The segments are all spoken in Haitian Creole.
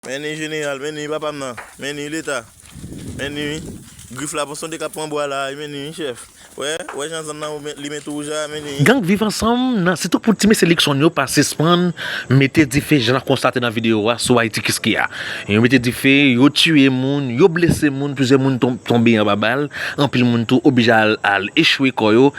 Menni jeneral menni papam nan menni leta menni grif la ponsonde kap pran bwa la menni chèf wè wè jan zòn nan li met wouj la menni. Gang viv ansanm nan se tou pou ti mesye Luckson yo pa sispann mete dife jan n ap konstate nan videyo a sou Ayiti Kiskeya. Yo mete dife, yo tiye moun, yo blese moun, plizyè moun tonbe anba bal, anpil moun tou oblije al echwe kò yo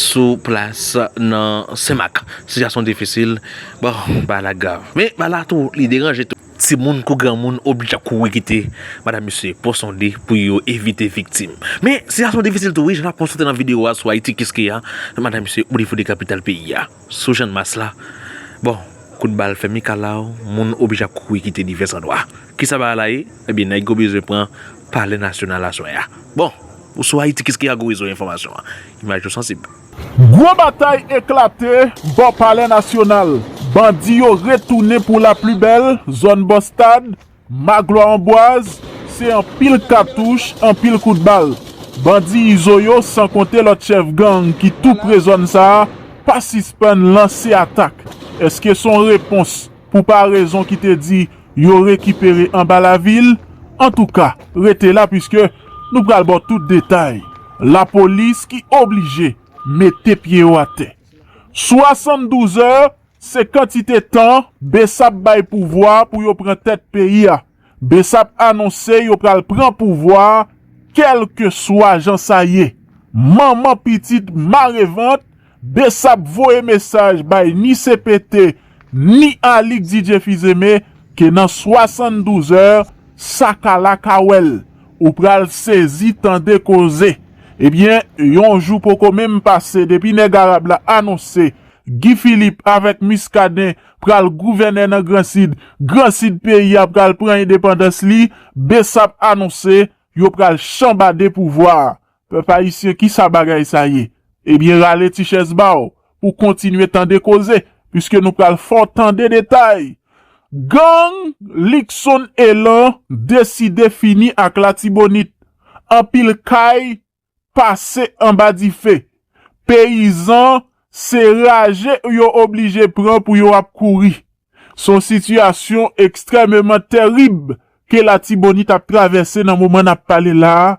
sou plas nan Senmak. Sitiyasyon difisil. Bon bagay la grav men bagay la tou li deranje tou. Timoun kou granmoun oblije ap kouri kite madam mesye po sonde pou yo evite viktim. Men sitiyasyon difisil tou wi jan nap konstate nan video a sou Ayiti kiskeya madam mesye oblije foure kapital peyi a sou channmas la bon kout bal fè mikalaw moun oblije ap kouri kite divès andwa. Kisa bagay la ye ebyen nèg yo bezwen pran palè nasyonal aswè a bon sou Ayiti kiskeya gwo rezo enfòmasyon an imaj yo sansib. Gwo batay eklate bò palè nasyonal, bandi yo retounen pou la pli bèl, zòn bò stad, Maglwa Anbwaz, se anpil katouch, anpil kout bal. Bandi Izo yo san konte lòt chèf gang ki tou pre zòn sa a pa sispann lanse atak. Eske son repons? pou parezon ki te di yo rekipere anba lavil, antouka rete la puiske nou pral baw tout detay, lapolis ki oblije mete pye yo atè. 72 è se kantite tan Bsap bay pouvwa pou yo pran tèt peyi a. Bsap anonse yo pral pran pouvwa a kèlkeswa jan sa ye. Manman pitit mare vant, Bsap voye mesaj bay ni cpt ni Alix Didier Fils-Aimé ke nan 72 zè sa ka la ka wè l. Ou pral sezi tande koze. Ebyen yon jou poko menm pase depi nèg arab la anonse Guy Philippe avèk Muscadin pral gouvène nan Gran Sid, Gran Sid peyi a pral pran endepandans li, Bsap anonse yo pral chanbade pouvwa a. Pèp Ayisyen kisa bagay sa ye? Ebyen rale ti chèz ba w pou kontinye tande koze, puiske nou pral fè w tande detay. Gang Luckson Elan deside fini ak Latibonit, anpil kay pase anba dife. Peyizan se raje yo oblije pran pou yo ap kouri. Son sitiyasyon ekstrèmeman terib ke Latibonit ap travèse nan moman nap pale la a.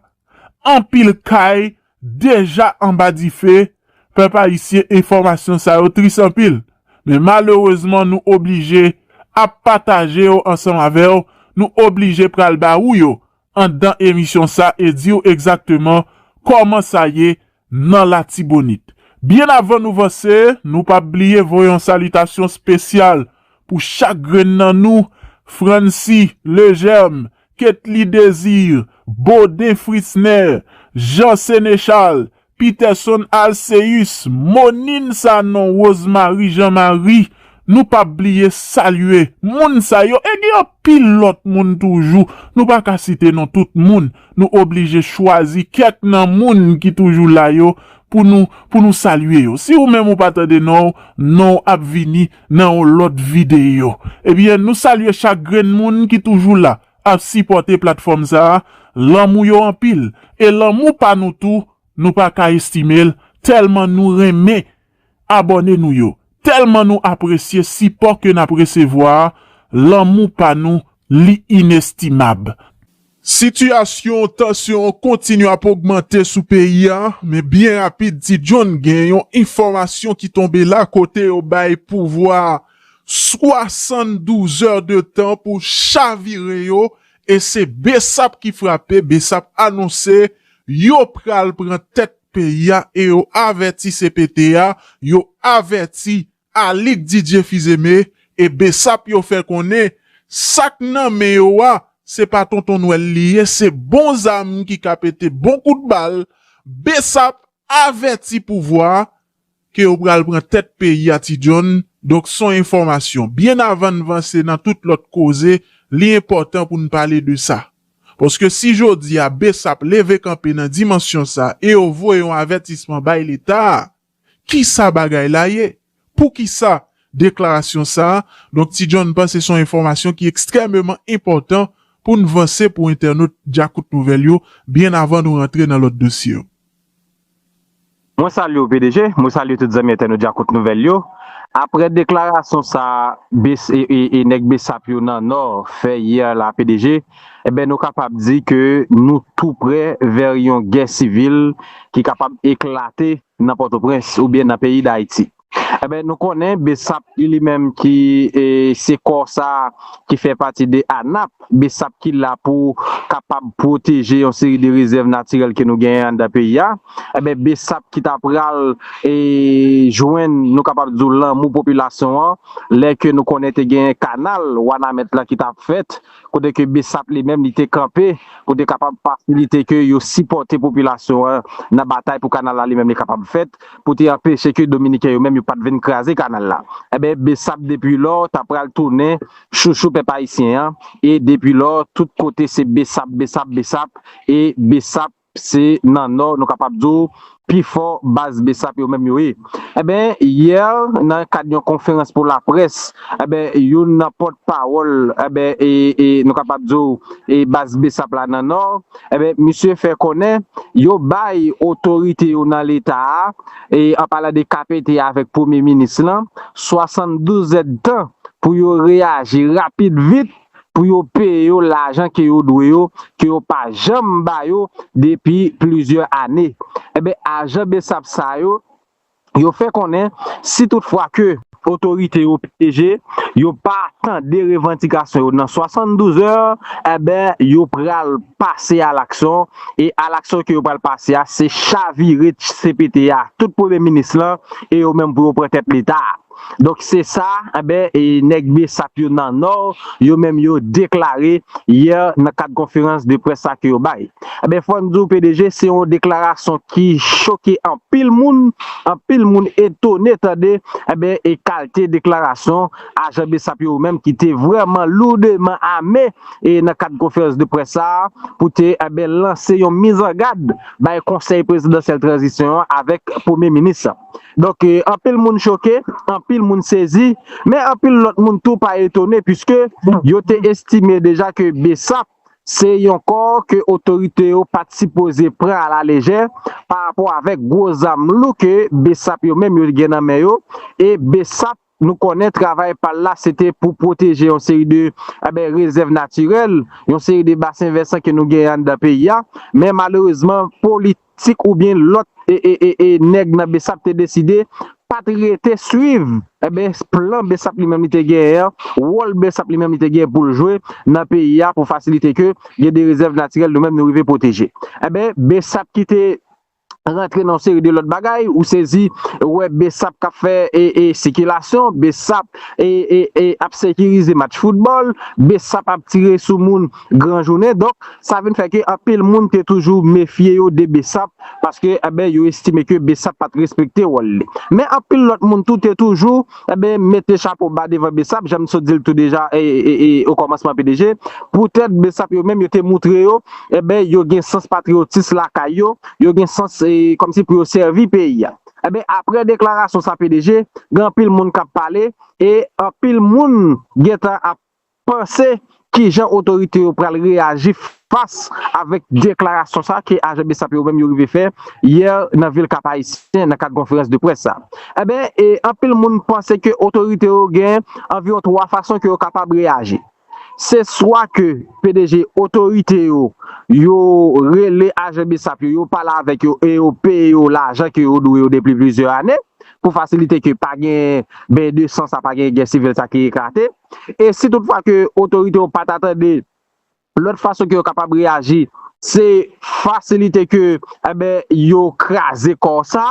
Anpil kay deja anba dife. Pèp ayisyen enfòmasyon sa yo tris anpil. Men malerezman nou oblije ap pataje yo ansanm avèw, nou oblije pral ba ou yo Anndan emisyon sa e di w egzakteman kòman sa ye nan Latibonit. Byen avan nou vanse, nou pap bliye voye yon salitasyon spesyal pou chak grenn nan nou, Francy, Legerme, Ketly Desir, Baudin Fritzner, Jean Senechal, Peterson Alcéus, Monine Sanon, Rosemarie Jean Marie, nou pap bliye salye moun sa yo e gen anpil lòt moun toujou nou pa ka site non tout moun, nou oblije chwazi kèk nan moun ki toujou la yo pou nou pou nou salye yo, si ou menm ou pa tande non w, non w ap vini nan yon lòt videyo. Ebyen nou salye chak grenn moun ki toujou la, ap sipòte platfòm sa a, lanmou yo anpil e lanmou pa nou tou nou pa ka estime l tèlman nou renmen abòne nou yo, tèlman nou apresye sipò ke n ap resevwa a, lanmou pa nou li inestimab. Sitiyasyon tansyon an kontinye ap ogmante sou peyi a, men byen rapid Ti John gen yon enfòmasyon ki tonbe la kote yo bay pouvwa 72 zè de tan pou chavire yo e se Bsap ki frape, Bsap anonse yo pral pran tèt peyi a e yo avèti cpt a, yo avèti Alix Didier Fils-Aimé e Bsap yo fè konnen sa k nan men yo a se pa tonton nwèl li ye se bon zam ki ka pete bon kout bal, Bsap avèti pouvwa ke yo pral pran tèt peyi a ti John, donk son enfòmasyon. Byen avan n vanse nan tout lòt koze, li enpòtan pou n pale de sa. Paske si jodi a bsap leve kanpe nan dimansyon sa e yo voye yon avètisman bay leta a, kisa bagay la ye? Poukisa deklarasyon sa? Donk ti John panse son enfòmasyon ki ekstrèmeman enpòtan pou n vanse pou entènot Djakout Nouvèl yo byen avan nou rantre nan lòt dosye yo. Mwen salye w pdg, mwen salye tout zanmi entènot djakout nouvèl yo. Aprè deklarasyon sa e nèg bsap yo nan nò fè yè la pdg, enben nou kapab di ke nou tou prè vè yon gè sivil ki kapab eklate nan pòtoprens oubyen nan peyi dayiti. Enben nou konnen Besap ki li menm ki se kò sa ki fè pati de ANAP, Besap ki la pou kapab pwoteje yon seri de rezèv natirèl ke nou genyen anndan peyi a. Enben Besap ki ta pral jwenn nou kapab di w lanmou popilasyon an lè ke nou konnen te genyen kanal Wanament lan ki ta fèt kote ke bsap li menm li te kanpe pou te kapab fasilite ke yo sipòte popilasyon an nan batay pou kanal la li menm li kapab fèt pou te anpeche ke dominiken yo menm yo pat vin kraze kanal la enben bsap depi lò ta pral tounen chouchou pèp ayisyen an e depi lò tout kote se bsap bsap bsap e bsap Se nan nò nou kapab di w pi fò baz bsap yo menm yo ye. Enben, yè nan kad yon konferans pou laprès, enben youn nan pòt pawòl enben e nou kapab di w e baz bsap la nan nò, enben misye fè konnen yo bay otorite yo nan leta a, e an palan de kpt a avèk premye minis lan, 72 zèdtan pou yo reyaji rapid vit pou yo peye yo lajan ke yo dwe yo, ke yo pa janm ba yo depi plizyè ane. Enben, ajan bsap sa yo, yo fè konnen si tout fwa ke otorite yo pdg yo pa tande revandikasyon yo nan 72 è, enben yo pral pase alaksyon, e alaksyon ke yo pral pase a, se chavire cpt a, tout premye minis lan, e yo menm pou yo pran tèt leta a. Donk se sa enben nèg bsap yo nan nò yo menm yo deklare yè nan kad konferans de près sa ke yo bay. Enben fò n di w pdg se yon deklarasyon ki choke anpil moun, anpil moun etone tande enben e kalte deklarasyon ajan bsap yo menm ki te vrèman loudeman ame e nan kad konferans de près sa pou te enben lanse yon mizangad bay konsèy prezidansyèl tranzisyon an avèk premye minis. Donk anpil moun choke, anpil moun sezi, men anpil lòt moun tou pa etone puiske yo te estime deja ke Bsap se yon kò ke otorite yo pa t sipoze pran a la lejè parapò avèk gwo zam lou ke Bsap yo menm yo gen nan men yo e Bsap Nou konnen travay pa l la se te pou pwoteje yon seri de rezèv natirèl, yon seri de basen vèsan ke nou genyen anndan peyi a, men malerezman politik oubyen lòt nèg nan besap te deside pa t rete swiv plan besap li menm li te genyen an, wòl besap li menm li te genyen pou l jwe nan peyi a pou fasilite ke gen de rezèv natirèl nou menm nou rive pwoteje. Enben besap ki te. rantre nan yon seri de lòt bagay, ou sezi wè Bsap k ap fè sikilasyon, Bsap ap sekirize match foutbòl, Bsap ap tire sou moun gran jounen. Donk, sa vin fè ke anpil moun te toujou mefye yo de Bsap, paske yo estime ke Bsap pa t respekte wòl li. Men anpil lòt moun tou te toujou. Enben, mete chapo ba devan bsap, jan m sot di l tou deja o kòmansman pdg. Poutèt bsap yo menm yo te moutre yo, enben yo gen sans patriyotis lakay yo, yo gen sans kòmsi pou yo sèvi peyi a. Enben, aprè deklarasyon sa pdg, gen anpil moun k ap pale e anpil moun gentan ap panse kijan otorite yo pral reyaji fas avèk deklarasyon sa ke ajan Bsap yo menm yo rive fè yè nan vil Kap Ayisyen nan kad konferans de près sa. Enben, anpil moun panse ke otorite yo gen anviwon 3 fason ke yo kapab reyaji. Se swa ke pdg otorite yo, yo rele ajan Bsap yo, yo pale avèk yo e yo peye yo lajan ke yo dwe yo depi plizyè ane pou fasilite ke pa gen beny de san sa, pa gen gè sivil sa ki eklate. e si tout fwa ke otorite yo pa ta tande lòt fason ke yo kapab reyaji se fasilite ke enben yo kraze kò sa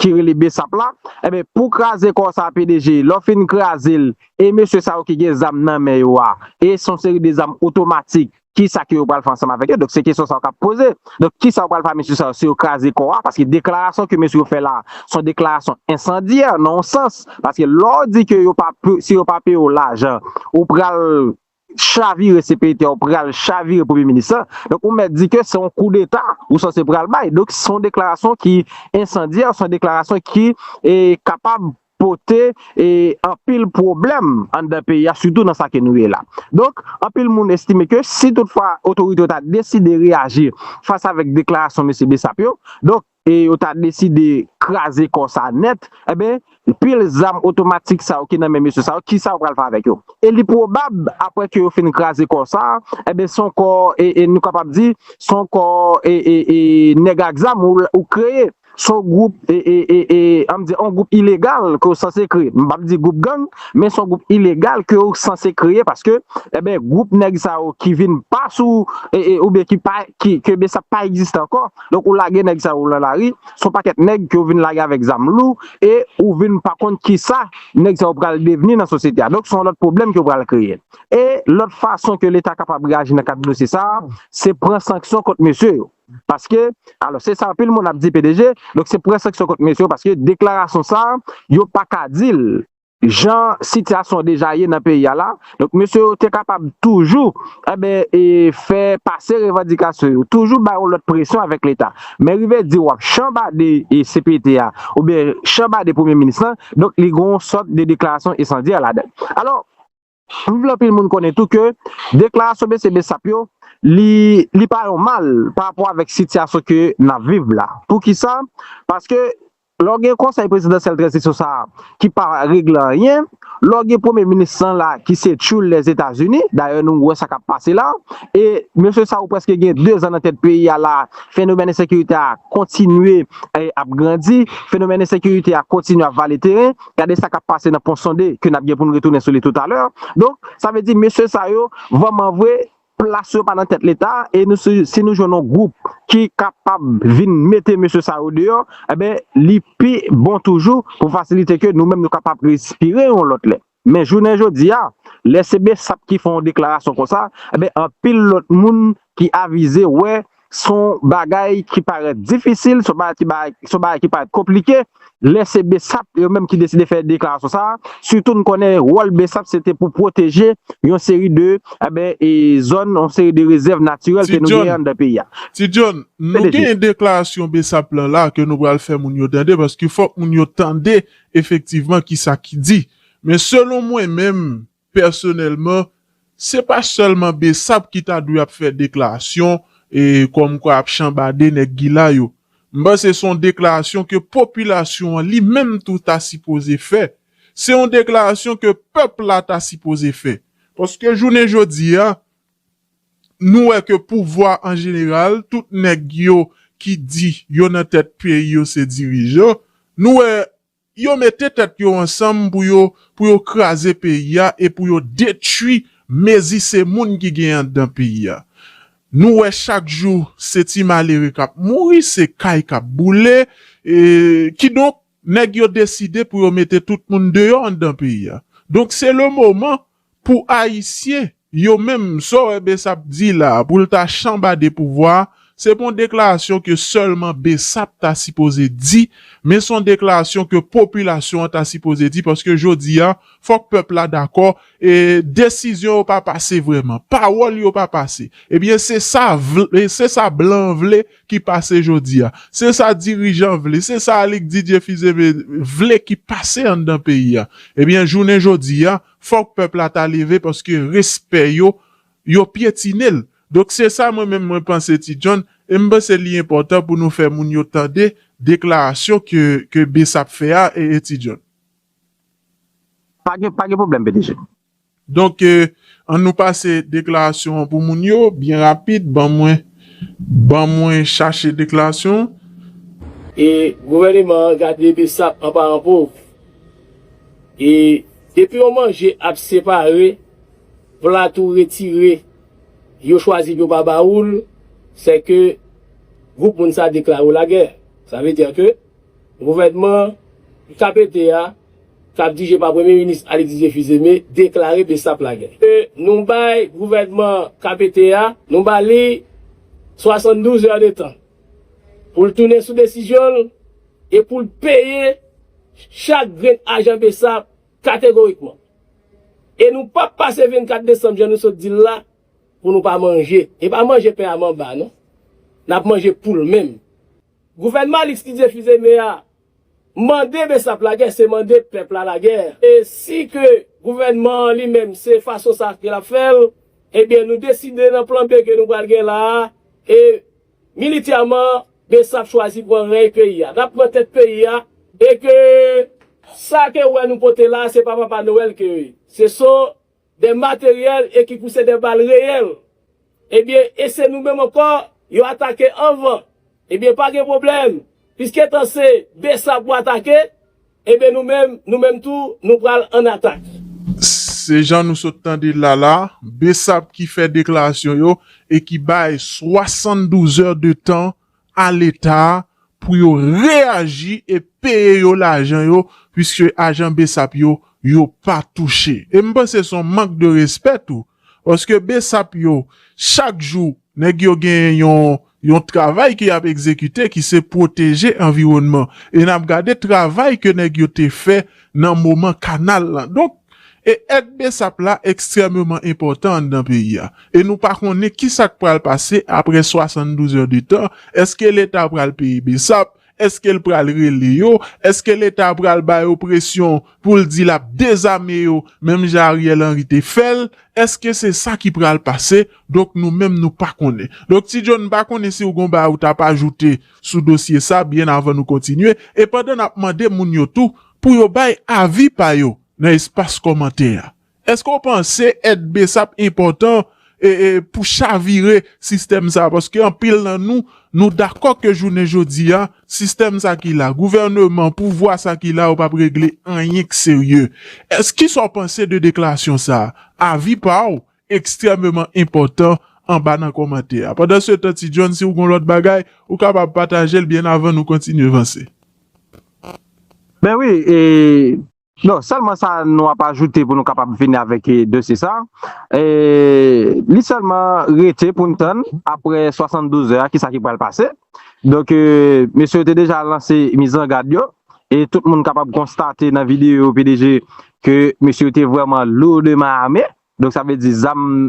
ki rele Bsap la enben pou kraze kò sa pdg lè w fin kraze l e mesye sa yo ki gen zam nan men yo a e son seri de zam otomatik ki sa ke yo pral fè ansanm avèk yo, donk se kesyon sa yo kap poze, donk ki sa yo pral fè a mesye sa yo si yo kraze kò a, paske deklarasyon ke mesye yo fè la a, son deklarasyon ensandyè nan yon sans, paske lè w di ke yo pa, si yo pa peye w lajan, ou pral chavire CPT a, ou pral chavire premye minis la, donk ou mèt di ke se yon koudeta ou sanse pral bay, donk son deklarasyon ki ensandyè, son deklarasyon ki kapab pote e anpil pwoblèm anndan peyi a sitou nan sa ke nou ye la. Donk, anpil moun estime ke si tout fwa otorite yo ta deside reyaji fas avèk deklarasyon mesye Bessap yo, donk, e yo ta deside kraze kò sa nèt, enben, pil zam otomatik sa yo ki nan men mesye sa yo, ki sa yo pral fè avèk yo? E li pwobab, aprè ke yo fin kraze kò sa, enben, son kò e, e nou kapab di, son kò e, e, e nèg ak zam ou kreye. Se yon gwoup an m di yon gwoup ilegal ke w sanse kreye. M pap di gwoup gang, men se yon gwoup ilegal ke w sanse kreye paske enben gwoup nèg sa yo ki vin pa sou oubyen ki pa ki ke bsap sa pa egziste ankò. Donk ou lage nèg sa yo lan lari, se yon pakèt nèg ke w vin lage avèk zam lou e ou vin pa konn kisa nèg sa yo pral devni nan sosyete a. Donk se yon lòt pwoblèm ke w pral kreye. E lòt fason ke leta kapab reyaji nan kad dosye sa a, se pran sanksyon kont mesye yo. Paske, alò se sa anpil moun ap di pdg, donk se pou gen sanksyon kont mesye yo paske deklarasyon sa a, yo pa ka di l jan sitiyasyon deja ye nan peyi a la, donk mesye yo te kapab toujou enben e fè pase revandikasyon yo, toujou bay yon lòt presyon avèk leta. Men rive di w ap chanbade cpt a oubyen chanbade premye minis lan, donk li gen yon sòt de deklarasyon ensandyè ladan l. Alò. Anpil anpil moun konnen tou ke deklarasyon mesye Bessap yo li li pa yon mal pa rapò avèk sitiyasyon ke n ap viv la. Pou ki sa? Paske lè w gen konsèy prezidansyèl tranzisyon sa a ki pa regle anyen, lè w gen premye minis lan la ki se tchoul Lèzetazini, dayè nou wè sa k ap pase la, e mesye sa yo prèske gen dezan nan tèt peyi a la, fenomèn ensekirite a kontinye ap grandi, fenomèn ensekirite a kontinye ap vale teren. gade sa kap pase nan pon sonde ke nap gen poun retounen sou li tout alè donk sa vle di mesye sa yo vrèman vre plas yo pa nan tèt leta e nou si nou jwenn yon gwoup ki kapab vin mete mesye sa yo deyò enben li pi bon toujou pou fasilite ke nou menm nou kapab respire yon lòt lè men jounen jodi a lè se bsap ki fè yon deklarasyon konsa enben anpil lòt moun ki avize wè Se yon bagay ki parèt difisil, se yon bagay ki parèt konplike, lè se bsap yo menm ki deside fè deklarasyon sa a, sitou nou konnen wòl bsap se te pou pwoteje yon seri de zòn, yon seri de rezèv natirèl ke nou genyen anndan peyi a. Ti John, nou genyen deklarasyon bsap lan la ke nou pral fè moun yo tande paske fòk moun yo tande efektivman kisa ki di. Men selon mwen menm, Pèsonèlman, se pa sèlman Bsap ki ta dwe ap fè deklarasyon kòmkwa ap chanbade nèg Gila yo. M panse se yon deklarasyon ke popilasyon an li menm tou ta sipoze fè. Se yon deklarasyon ke pèp la ta sipoze fè. Paske jounen jodi a, nou wè ke pouvwa an jeneral, tout nèg yo ki di yo nan tèt peyi yo se dirijan, nou wè Yo mete tèt yo ansanm pou yo pou yo kraze peyi a e pou yo detwi mezi se moun ki gen andan peyi a. Nou wè chak jou se ti malere k ap mouri, se kay k ap boule. Kidonk, nèg yo deside pou yo mete tout moun deyò andan peyi a. Donk se le moman Pou ayisyen Yo menm Saw wè Bsap di la poul ta chanbade pouvwa se pon deklarasyon ke sèlman Bsap ta sipoze di men son deklarasyon ke popilasyon an ta sipoze di paske jodi a fòk pèp la dakò e desizyon yo pa pase vrèman pawòl yo pa pase ebyen se sa vle se sa blan an vle ki pase jodi a se sa dirijan vle se sa Alix Didier Fils-Aimé vle ki pase anndan peyi a ebyen jounen jodi a Fòk pèp la ta leve paske respè yo, yo pyetine l. Donk se sa mwen menm mwen panse Ti John, e m panse li enpòtan pou nou fè moun yo tande deklarasyon ke ke Bsap fè a ee Ti John. Pa gen pa gen pwoblèm pdg. Donk an nou pase deklarasyon an pou moun yo byen rapid ban mwen ban mwen chache deklarasyon an. E gouvèneman an gade Bsap an paran pov. E depi yon manje ap separe, plat ou retire, yo chwazi pou yo pa ba ou l, se ke gwoup moun sa deklare w lagè. Sa vle dire ke gouvènman KPT a, k ap dirije pa Premye Minis Alexis Tshifizeme, deklare Bsap lagè. E nou bay gouvènman KPT a, nou ba li 72 è de tan pou l tounen sou desizyon l, e pou l peye chak grenn ajan bsap kategorikman. E nou p ap pase 24 desanm jan nou sot di l la pou nou pa manje. E pa manje pen a manba non. N ap manje poul menm. Gouvènman Alix Didier Fils-Aimé a mande bsap lagè se mande pèp la lagè. E si ke gouvènman an li menm se fason sa ke l ap fè l, ebyen nou deside nan plan B ke nou pral gen la a e Militèman, Bsap chwazi pran reny peyi a. Nap pran tèt peyi a e ke sa ke ou wè nou pote la a se pa Papa Noël ke yo ye. Se son des matériels et ki pou se des balles réelles. Ebyen, e se nou menm ankò yo atake anvan. Ebyen pa gen pwoblèm, piske tan se Bsap ou atake, Eben nou menm, nou menm tou, nou pral an atak. Se jan nou sot tande l la la, Bessap ki fè deklarasyon yo e ki bay 72 è de tan a leta pou yo reyaji e peye yo lajan yo puiske ajan Bessap yo, yo pa touche. E m panse son mank de respè tou Paske besap yo chak jou nèg yo gen yon travay ke yap egzekite ki se pwoteje anviwònman e nap gade travay ke nèg yo te fè nan moman kanal lan donk e èd besap la ekstrèmeman enpòtan anndan peyi a e nou pa konnen kisak pral pase aprè 72 è de tan eske leta pral peye besap Eske l pral rele yo? Eske leta pral ba yo presyon pou l di l ap dezame yo menm jan Ariel Henry te fè l? Eske se sa ki pral pase? Donk nou menm nou pa konnen. Donk Ti Joe m pa konnen si w gon bagay ou t ap ajoute sou dosye sa byen avan nou kontinye e pandan n ap mande moun yo tou pou yo bay avi pa yo nan espas kòmantè a. Eske w panse èd bsap enpòtan pou chavire sistèm sa a? Paske anpil nan nou, nou dakò ke jounen jodi a, sistèm sa ki la, gouvèneman, pouvwa sa ki la yo pap regle anyen k serye. Èske ki sa w panse de deklarasyon sa a? Avi pa w ekstrèmeman enpòtan anba nan kòmantè a. Pandan se tan Ti John, si w gon lòt bagay, ou kapab pataje l byen avan nou kontinye vanse. Ben wi e. Donk, sèlman sa nou ap ajoute pou nou kapab fini avèk dosye sa a, li sèlman rete pou n tann apre 72 zè a kisa ki pral pase. Donk, mesye yo te deja lanse mizangad yo e tout moun kapab konstate nan videyo pdg ke mesye yo te vrèman lourdement armés. Donk sa vle di zam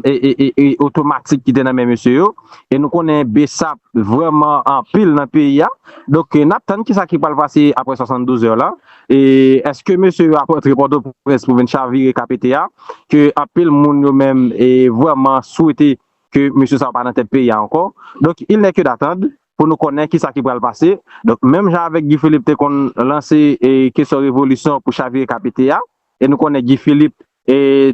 otomatik ki te nan men mesye yo. E nou konnen bsap vrèman anpil nan peyi a. Donk n ap tann ki sa ki pral pase aprè 72 zè la. E èske mesye yo ap rantre Pòtoprens pou vin chavire KPT a. Ke anpil moun yo menm vrèman swete ke mesye sa yo pa nan tèt peyi a ankò. Donk il nè ke datand pou nou konnen ki sa ki pral pase. Donk menm jan avèk Guy Philippe te konn lanse kesyon revolisyon pou chavire KPT a. E nou konnen Guy Philippe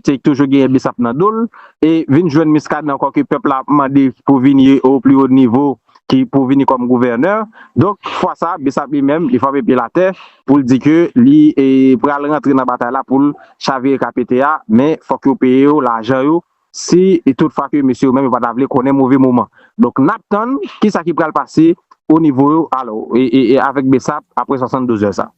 te toujou genyen Bsap nan do l. E vin jwenn Muscadin ankò ke pèp la ap mande pou vini o pli o nivo ki pou vini kòm gouvènè. Donk fwa sa Bsap li menm li frape pye l atè pou l di ke li pral rantre nan batay la pou l chavire ka pete a. Men fòk yo peye yo lajan yo si tout fwa ke mesye yo menm yo pa ta vle konnen move moman. Donk n ap tann kisa ki pral pase o nivo yo alò e avèk Bsap apre 72 zè sa.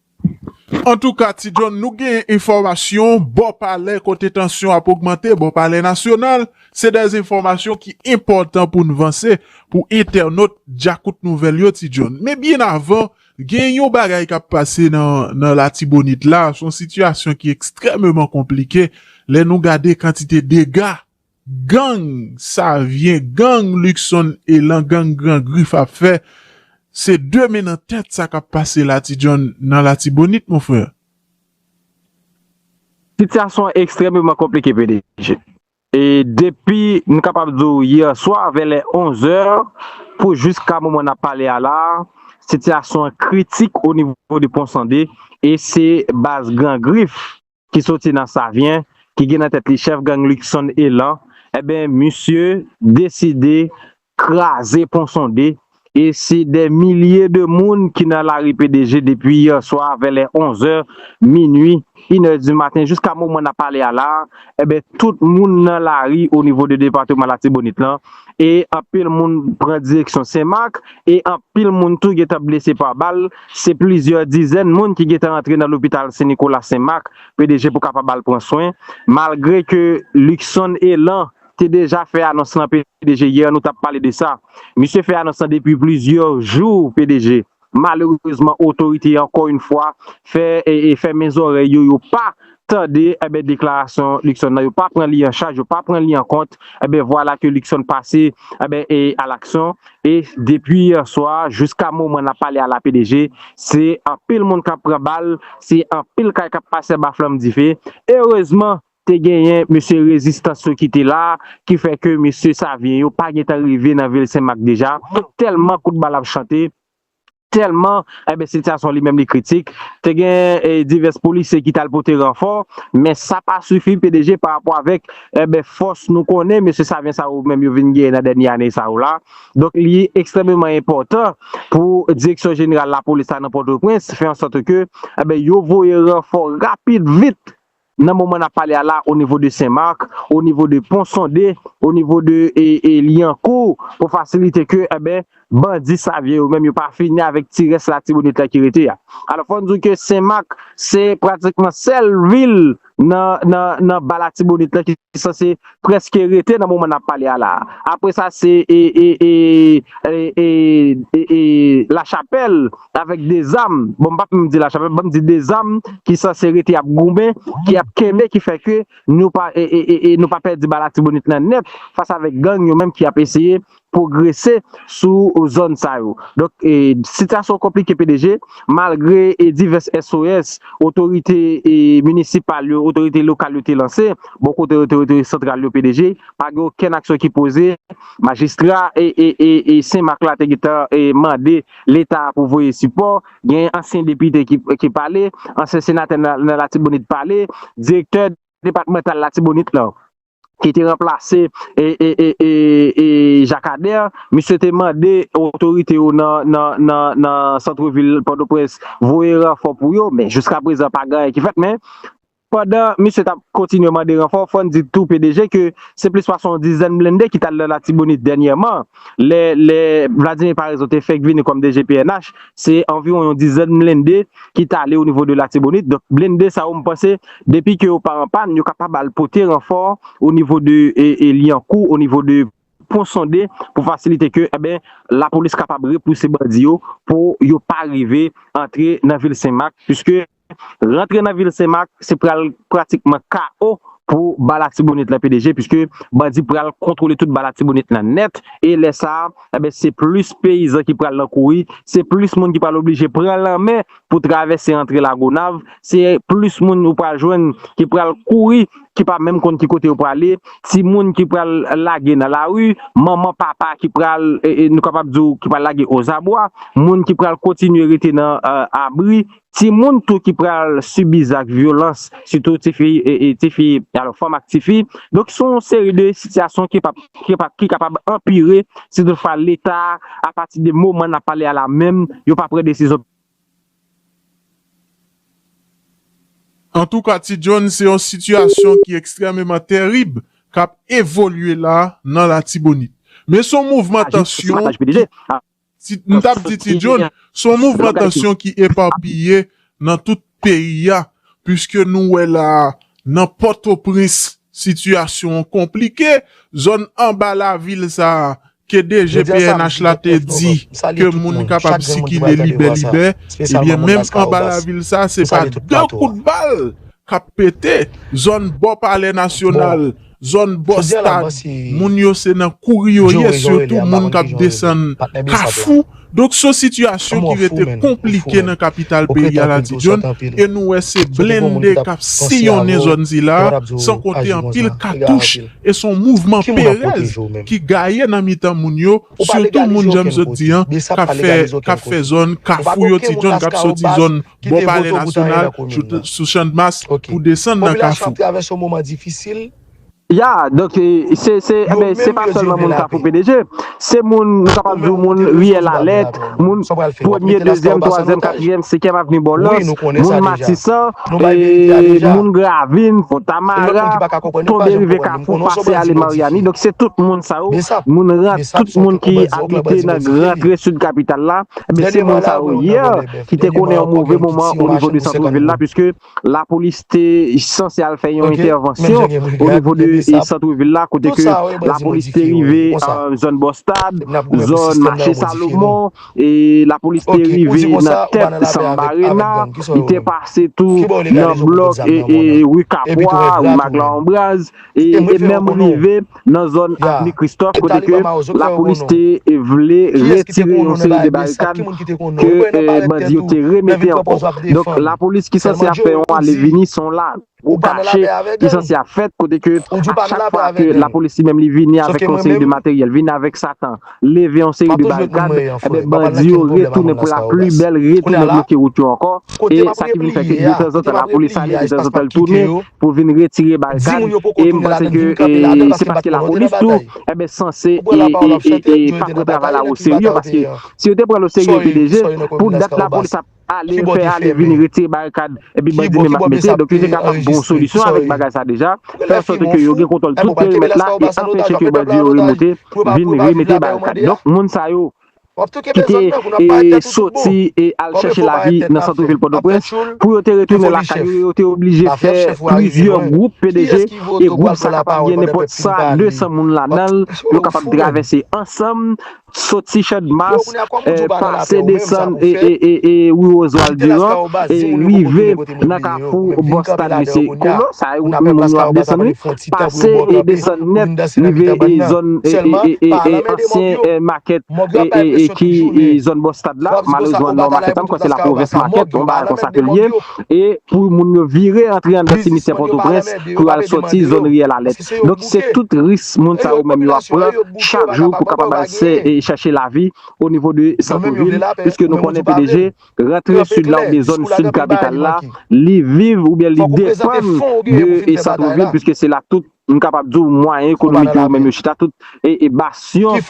Antouka Ti John nou genyen enfòmasyon bò palè kote tansyon ap ogmante bò palè nasyonal, se de enfòmasyon ki enpòtan poun vanse pou entènot djakout nouvèl yo Ti John. Men byen avan gen yon bagay kap pase nan latibonit la son sitiyasyon ki ekstrèmeman konplike lè nou gade kantite dega. Gang savyen gang luckson elan gang gran grif ap fè se de men nan tèt sa kap pase la ti jhon nan latibonit mon frère. Sitiyasyon an ekstrèmeman konplike pdg e depi m kapab di w yè swa vè lè 11 zè pou jiska moman n ap pale a la a sitiyasyon an kritik onivo de ponsande e se baz gran grif ki soti nan Savyen, ki gen nan tèt li chèf gang Luckson Elan, enben misye deside kraze pon sonde e se dè milye de moun ki nan lari PDG depi yè swa vè lè 11 è, minui, inè di maten jiska moman n ap pale a la a, enben tout moun nan lari o nivo de depateman Latibonit lan e anpil moun pran direksyon Senmak e anpil moun tou gen tan blese pa bal. Se plizyè dizèn moun ki gentan antre nan lopital Sen Nikola Sen Mak, pdg pou kapab al pran swen. Malgre ke Luckson Elan te deja fè anons lan pdg yè nou tap pale de sa. Misye fè anons lan depi plizyè jou pdg. Malerezman otorite ankò yn fwa fè fèmen zòrèy yo yo pa tande enben deklarasyon Luckson nan yo pa pran li an chaj yo pa pran li an kont enben vwala ke Luckson pase enben e a laksyon e depi yè swa jiska moman nap pale a la pdg se anpil moun kap pran bal se anpil kay kap pase anba flanm dife erezman te genyen mesye rezistans yo ki te la ki fè ke mesye savyen yo pa gentan rive nan vil senmak deja tèlman kout bal ap chante. Tèlman eh sitiyasyon li menm li kritik, te gen divès polisye ki t al pote ranfò, men sa pa sifi pdg pa rapò avèk eh fòs nou konnen mesye Savyen sa yo menm yo vin genyen nan dènye ane sa yo la. Donk li ekstrèmeman enpòtan pou Direksyon Jeneral Lapolis la nan Pòtoprens fè ansòt ke eh yo voye ranfò rapid vit nan moman nap pale a la o nivo de Sen Marc, o nivo de Pon Sonde, o nivo de Lyankou pou fasilite ke enben bandi Savyen yo menm yo pa fini avèk ti rès latibonit la ki rete a. Alò fò n di w ke Sen Marc se pratikman sèl vil nan nan nan ba latibonit la ki sanse preske rete nan moman nap pale a la apre sa se la chapèl avèk de zam bon m pap menm di la chapèl banm di de zam ki sanse rete ap goumen ki ap kenbe ki fè ke nou pa pèdi ba latibonit nan nèt fas avèk gang yo menm ki ap eseye pwogrese sou zòn sa yo. Donk sityasyon konplike pdg, malgre divès SOS otorite minisipal yo, otorite lokal yo te lanse, bò kote otorite santral yo pdg, pa gen okenn aksyon ki poze, majistra Sen Mak la te gentan mande leta pou voye sipò, gen ansyen depite ki pale, ansyen senatè nan latibonit pale, direktè depatmantal latibonit lan. ki te ranplase Jacques Ader, misye te mande otorite yo nan santre vil Pòtoprens voye ranfò pou yo, men jiska prezan pa gen anyen ki fèt, men pandan misye tap kontinye mande ranfò, fòn di tou pdg ke se plis pase yon dizèn blende ki tal nan Latibonit dènyèman. Lè lè Vladimir Paraison te fèk vini kòm DG pnh, se anviwon yon dizèn blende ki t ale onivo de Latibonit. Donk, blende sa yo m panse depi ke yo pa an pàn, yo kapab al pote ranfò onivo de Lyankou, onivo de Pon Sonde pou fasilite ke enben lapolis kapab repouse bandi yo pou yo pa rive antre nan vil Sen Mak. Piske Rantre nan vil Senmak se pral pratikman KO pou ba Latibonit lan pdg puiske bandi pral kontwole tout ba Latibonit lan nèt e lè sa enben se plis peyizan ki pral nan kouri, se plis moun ki pral oblije pran lanmè pou travèse antre Lagonav, se plis moun ou pral jwenn ki pral kouri ki pa menm konn ki kote yo prale, timoun ki pral lage nan lari, manman, papa ki pral nou kapab di w ki pral lage ozabwa, moun ki pral kontinye rete nan abri. Timoun tou ki pral sibi zak vyolans, sitou tifi, tifi, alò fanm ak tifi. Donk se yon seri de sitiyasyon ki pap, ki pap, ki kapab anpire si tout fwa leta a pati de moman n ap pale a la menm yo pa pran desizyon. Antouka Ti John se yon sitiyasyon ki ekstrèmeman terib k ap evolye la nan Latibonit. Men se yon mouvman tansyon ki. M t ap di Ti John, s on mouvman tansyon ki epapiye nan tout peyi a, piske nou wè la a nan Pòtoprens sitiyasyon an konplike, zòn anba lavil sa a ke DG pnh la te di ke moun kapab sikile libè libè, ebyen menm anba lavil sa a se pa 2 kout bal k ap pete, zòn bò palè nasyonal. Zòn Bòstad, moun yo se nan kouri yo ye, sitou moun k ap desann Kafou. Donk s on sitiyasyon ki rete konplike nan kapital peyi a Latidjòn e nou wè se blende k ap siyonnen zòn sila a san konte anpil katouch e s on mouvman perèz ki gaye nan mitan moun yo, sitou moun jan m sot di an k ap fè zòn Kafou yo, Tidjòn k ap soti zòn. Bò Palè Nasyonal, sou Chandmas pou desann nan Kafou. Ya, donk se, enben, se pa sèlman moun Kafou PDG, se moun, nou kapab di w moun Riyèl Alèt, moun Premye, Dezyèm, Twazyèm, Katriyèm, Sekyèm Avni Bòlòs, moun Matisan, moun Gravin, Fontamara, tonbe rive Kafou, pase ale Maryani, donk se tout moun sa yo, moun rant, tout moun ki abite nan rantre Sid Kapital la, enben se moun sa yo. ki te konnen yon move moman o nivo de santre vil la piske lapolis te sanse al fè yon entèvansyon o nivo de santre vil la kote ke lapolis te rive zòn Bòstad, zòn mache Salomon, lapolis te rive nan tèt Samba Arena, li te pase tou nan blòk ri Kapwa, ri Maglan Anbraz. e menm rive nan zòn avni Kristòf kote ke lapolis te vle retire yon seri de barikad ke bandi yo te remete ankò. Donk lapolis ki sanse ap fè yon ale vini se yon lagwo kache ki sanse ap fèt kote ke a chak fwa ke lapolis li menm li vini avèk yon seri de materyèl, vini avèk satan, leve yon seri de barikad, enben bandi yo retounen pou la pli bèl retounen bloke wout yo ankò e sa ki vin fè ke detanzantan lapolis ale detanzantan li tounen pou vin retire barikad e m panse ke se paske lapolis tou enben sanse pa pran travay la oserye paske si yo te pran l oserye epi deje pou dat lapolis ap ale fè ale vini retire barikad epi bandi menm ap mete donk yo te ka pran bon solisyon avèk bagay sa deja fè ansote ke yo gen kontòl tout perimèt la e anpeche ke bandi yo remonte vin remete barikad donk moun sa yo. ki te soti e al chèche lavi nan santrevil Pòtoprens, pou yo te retounen lakay yo, yo te oblije fè plizyè gwoup PDG, e gwoup sa kapab gen nenpòt 100 a 200 moun ladan l, yo kapab travèse ansanm, soti Chandmas, pase desann e ri Oswald Durand, rive nan kafou bò stad mesye Kolo, sa e wout moun yo ap desann wi, pase e desann nèt rive e zòn e ansyen makèt e ki zòn bò stad la, malerezman non makèt la m kwè se lapwovens makèt, yon bagay konsa ke l ye e pou moun yo vire antre anndan simityè pòtoprens pou yo al sòti zòn riyèl alèt. Donk se tout ris moun sa yo menm yo ap pran chak jou pou kapab al chèche lavi onivo de santo vil piske nou konnen pdg Rantre Sud la oubyen zòn Sud kapital la, li viv oubyen li depann de Centre-Ville puiske se la tout, m kapab di w, mwayen ekonomik yo menm yo chita, tout basyon, m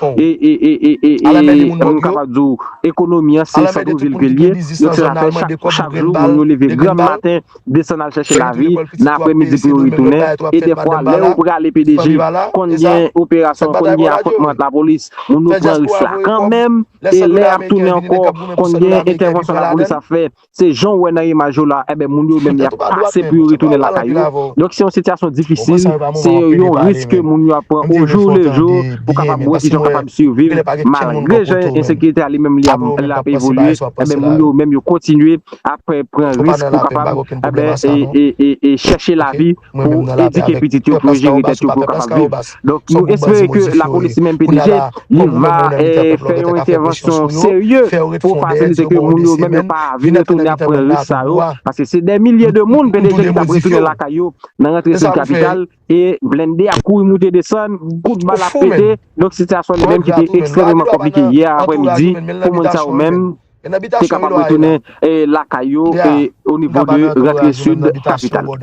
kapab di w, ekonomi an se Centre-Ville ke l ye, yo fè l atè chak jou, moun yo leve granm maten. desann al chèche lavi, nan apremidi pou yo retounen, e dèfwa lè yo prale pdg konn gen operasyon, konn gen afontman ant lapolis, moun yo pran risk la kanmenm, e lè yap tounen ankò konn gen entèvansyon lapolis ap fè, se jan w wè nan imaj yo la, enben moun yo menm yap pase pou yo retounen lakay yo, donk se yon sitiyasyon difisil, se yon risk ke moun yo ap pran ojou lejou pou kapab wè kijan yo kapab siviv, malgre jan ensekirite a li menm li ap evolye, enben moun yo menm yo kontinye apre pran risk pou kapab chèche lavi pou edike pitit yo, pou jere tèt yo, pou yo kapab viv. Donk nou espere ke lapolis menm PDG li va fè yon entèvansyon serye pou fasilite ke moun yo menm yo pa vin retounen ap pran risk sa yo. Paske se dè milye de moun PDG ki tap retounen lakay yo nan rantre sou kapital. e blende ap kouri moute desann, kout bal ap pete, donk sitiyasyon li menm ki te ekstrèmeman konplike yè aprè midi pou moun sa yo menm te kapab retounen lakay yo o nivo de rantre sid kapital.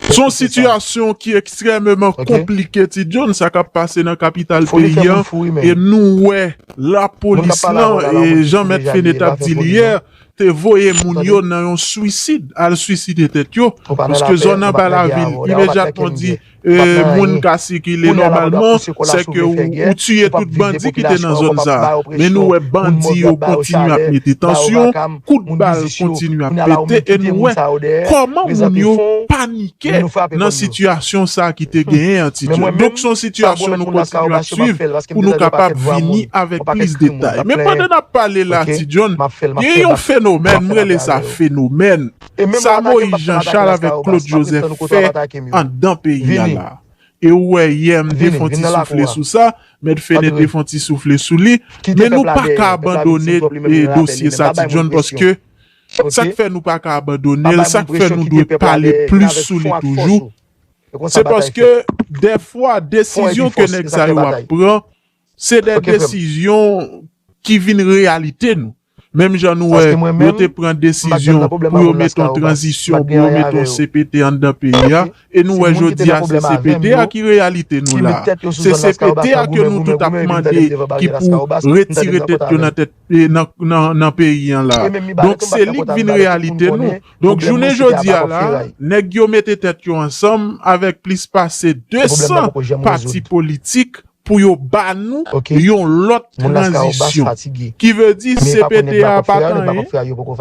Se yon sitiyasyon ki ekstrèmeman konplike ti John sa k ap pase nan kapital peyi an e nou wè lapolis lan jan mèt Fenech ap di li yè te voye moun yo nan yon swisid al swiside tèt yo paske zòn anba lavil imedyatman di moun ka sikile nòmalman sèke ou tiye tout bandi ki te nan zòn sa men nou wè bandi yo kontinye ap mete tansyon kout bal kontinye ap pete e nou wè kòman moun yo panike. Ke nan sitiyasyon sa ki te genyen an ti jan. Donk son sitiyasyon nou kontinye ap swiv pou nou kapab vini avèk plis detay. Men pandan nap pale la ti John, gen yon fenomèn, m rele sa fenomèn, sa Moïse Jean Charles avèk Claude Joseph fè anndan peyi a la. E ou wè yè m te fon ti soufle sou sa, Mèt Fene te fon ti soufle sou li, men nou paka abandone dosye sa ti John paske. Sak fè nou paka abandonel, sak fè nou dwe pale plis sou li toujou, se paske dèfwa desizyon ke nèg sa yo ap pran, se dè desizyon ki vin reyalite nou. Menm jan nou wè yo te pran desizyon pou yo met yon tranzisyon, pou yo met yon CPT anndan peyi a, e nou wè jodi a se CPT a ki reyalite nou la. Se CPT a ke nou tout ap mande ki pou retire tèt yo nan tèt. nan peyi an la donk se li k vin reyalite nou donk jounen jodi a la nèg yo mete tèt yo ansanm avèk plis pase 200 pati politik pou yo ba nou yon lòt tranzisyon ki vle di cpt a pat anyen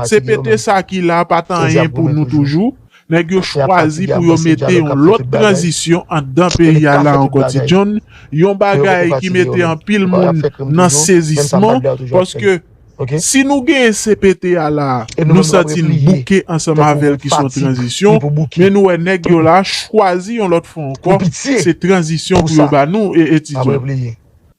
cpt sa ki la pat anyen pou nou toujou. Nèg yo chwazi pou yo mete yon lòt tranzisyon anndan peyi a la ankò Ti John, yon bagay ki mete anpil moun nan sezisman paske si nou genyen CPT a la nou santi n bouke ansanm avè l ki s on tranzisyon men nou wè nèg yo la chwazi yon lòt fwa ankò se tranzisyon pou yo ba nou Ti John.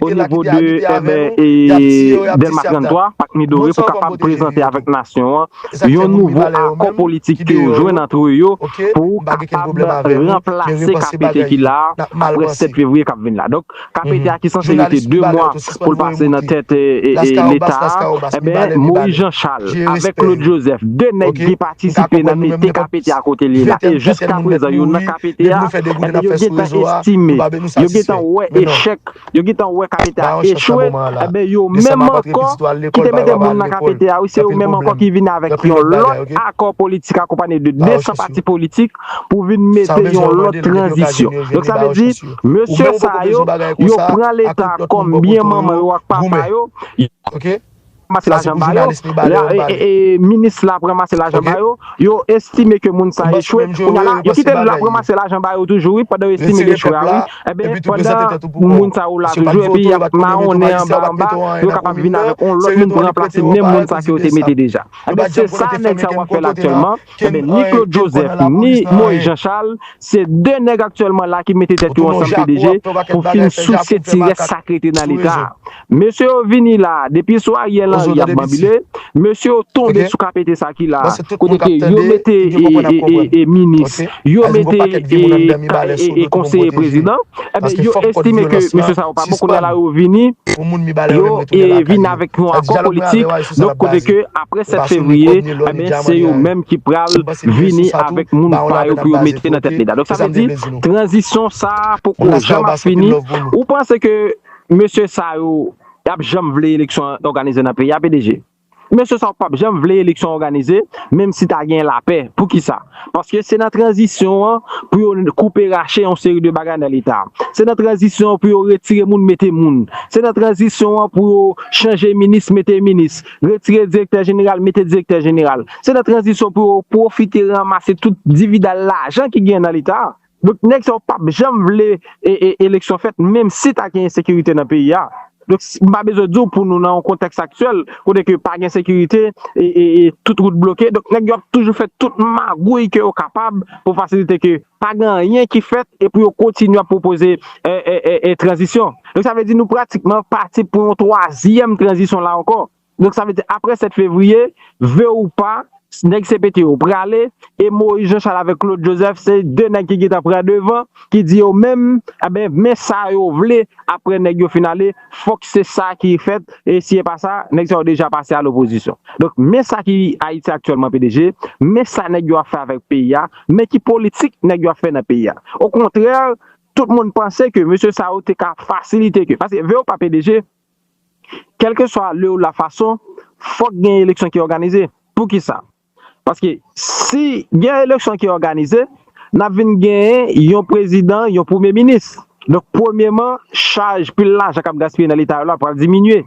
O nivo de eben e Delma 33, Pak Midore pou kapab prezante avèk nasyon an yon nouvo akò politik ke yo jwenn antre yo pou kapab ranplase KPT ki la a apre 7 fevriye kap vin la. Donk KPT a ki sanse rete 2 mwa pou l pase nan tèt leta a, eben Moyiz Jan Chal avèk Klod Jozèf 2 nèg ki patisipe nan mete KPT a kote li ye la e jiska prezan yo nan KPT a, eben yo gentan estime. Yo gentan wè echèk, yo gentan wè KPT a echwe, enben yo menm ankò ki te mete moun nan KPT a wi, se yo menm ankò ki vin avèk yon lòt akò politik akonpanye de 200 pati politik pou vin mete yon lòt tranzisyon. Donk sa vle di, mesye sa yo, yo pran leta kòm byen manman yo ak papa yo. Sa se pou jounalis li bale yo bale. Minis la ap ranmase lajan ba yo, yo estime ke moun sa echwe, kounya la yo kite lap ranmase lajan ba yo toujou wi pandan yo estime li echwe a wi, enben pandan moun sa yo la toujou epi yap mawonnen anba anba yo kapab vin avèk yon lòt moun pou ranplase menm moun sa ke yo te mete deja. Enben se sa nèg sa yo ap fè la aktyèlman. Enben, ni Claude Joseph, ni Moïse Jean Charles, se 2 nèg aktyèlman la ki mete tèt yo ansanm pdg pou fin souse ti rès sa k rete nan leta a. Mesye yo vini la a, depi sou Ariel Henry y ap banbile, mesye yo tonbe sou kapete sa ki la a, kote ke yo mete minis, yo mete konseye prezidan. Enben, yo estime ke mesye sa yo pa bon, kounye a la yo vini, yo vini avèk yon akò politik, donk kote ke apre 7 fevriye, enben, se yo menm ki pral vini avèk moun pa yo pou yo mete nan tèt Leta. Donk sa vle di, tranzisyon sa a poko janm ap fini. Ou panse ke mesye sa yo, y ap janm vle eleksyon òganize nan peyi a, PDG? Mesye sa yo pap janm vle eleksyon òganize menm si ta gen lapè. Poukisa? Paske se nan tranzisyon an pou yo koupe rache yon seri de bagay nan leta. Se nan tranzisyon an pou yo retire moun mete moun. Se nan tranzisyon an pou yo chanje minis mete minis, retire direktè jeneral mete direktè jeneral. Se nan tranzisyon pou yo pwofite ranmase tout dividal lajan ki gen nan leta. Donk nèg sa yo pap janm vle eleksyon fèt menm si ta gen ensekirite nan peyi a. Donk m pa bezwen di w pou nou nan yon kontèks aktyèl kote ke pa gen sekirite e tout wout bloke donk nèg yo ap toujou fè tout magouy ke yo kapab pou fasilite ke pa gen anyen ki fèt e pou yo kontinye ap pwopoze tranzisyon. Donk sa vle di nou pratikman pati pou yon twazyèm tranzisyon la ankò. Donk sa vle di aprè 7 fevriye, vle ou pa, nèg cpt yo prale, e Moïse Jean Charles avèk Claude Joseph se 2 nèg ki gentan pran devan, ki di yo menm, enben men sa yo vle aprè nèg yo fin ale, fòk se sa ki fèt, e si e pa sa, nèg sa yo deja pase a lopozisyon. Donk men sa ki Ayiti aktyèlman pdg, men sa nèg yo ap fè avèk peyi a, men ki politik nèg yo ap fè nan peyi a. Okontrè, tout moun panse ke mesye sa yo te ka fasilite ke, paske vle ou pa pdg, Kèlkeswa le ou la fason, fòk gen eleksyon ki òganize. Poukisa? Paske si gen eleksyon ki òganize, n ap vin genyen yon prezidan, yon premye minis. Donk premyeman, chaj pil lajan k ap gaspiye nan Leta yo la pral diminye.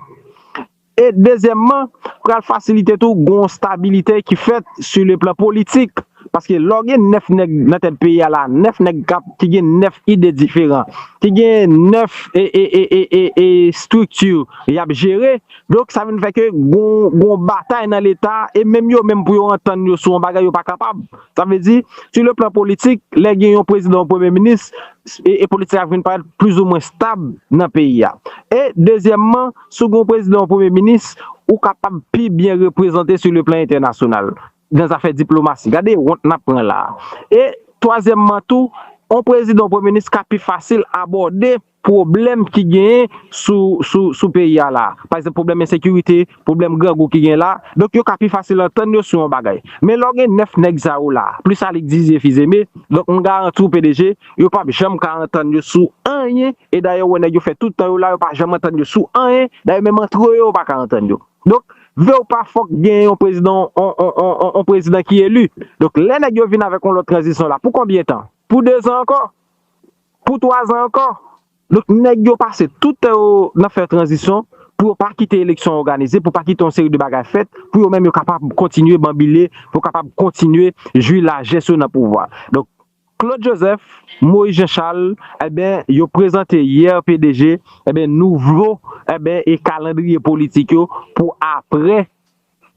E dezyèmman, pral fasilite tou gon stabilite ki fèt si le plan politik Paske lè w gen 9 nèg nan tèt peyi a la, 9 nèg kap ki gen 9 ide diferan, ki gen 9 e estrikti yap jere, donk sa vin fè ke gon batay nan leta e menm yo menm pou yo antann yo sou yon bagay yo pa kapab. Sa vle di, sou le plan politik, lè gen yon prezidan, yon premye minis, e politik la vin parèt plizoumwen stab nan peyi a. E dezyèmman, si w gen yon prezidan, yon premye minis, ou kapab pi byen reprezante sou le plan entènasyonal. nan zafè diplomasi. Gade wont n ap pran la a. E, twazyèmman tou, yon prezidan, yon premye minis ka pi fasil abòde pwoblèm ki genyen sou peyi a la a. Pa egzanp, pwoblèm ensekirite, pwoblèm grangou ki genyen la a. Donk, yo ka pi fasil antann yo sou yon bagay. Men lè w gen nèf nèg sa yo la a, plis Alix Didier Fils-Aimé, donk m garanti w PDG, yo p ap janm ka antann yo sou anyen. E dayè ou wè nèg yo fè tout tan yo la, yo pa janm antann yo sou anyen. Dayè menm antre yo, yo pa ka antann yo. Donk, vle ou pa fòk gen yon prezidan yon prezidan ki eli. Donk, lè nèg yo vin avèk yon lòt tranzisyon la, pou konbyen tan? Pou dezan ankò? Pou twazan ankò? Donk, nèg yo pase tout tan yo nan fè tranzisyon pou yo pa kite eleksyon òganize, pou pa kite yon seri de bagay fèt, pou yo menm yo kapab kontinye banbile, pou yo kapab kontinye jwi lajès yo nan pouvwa. Donk. Claude Joseph, Moïse Jean Charles enben yo prezante yè pdg enben nouvo enben e kalandriye politik yo pou aprè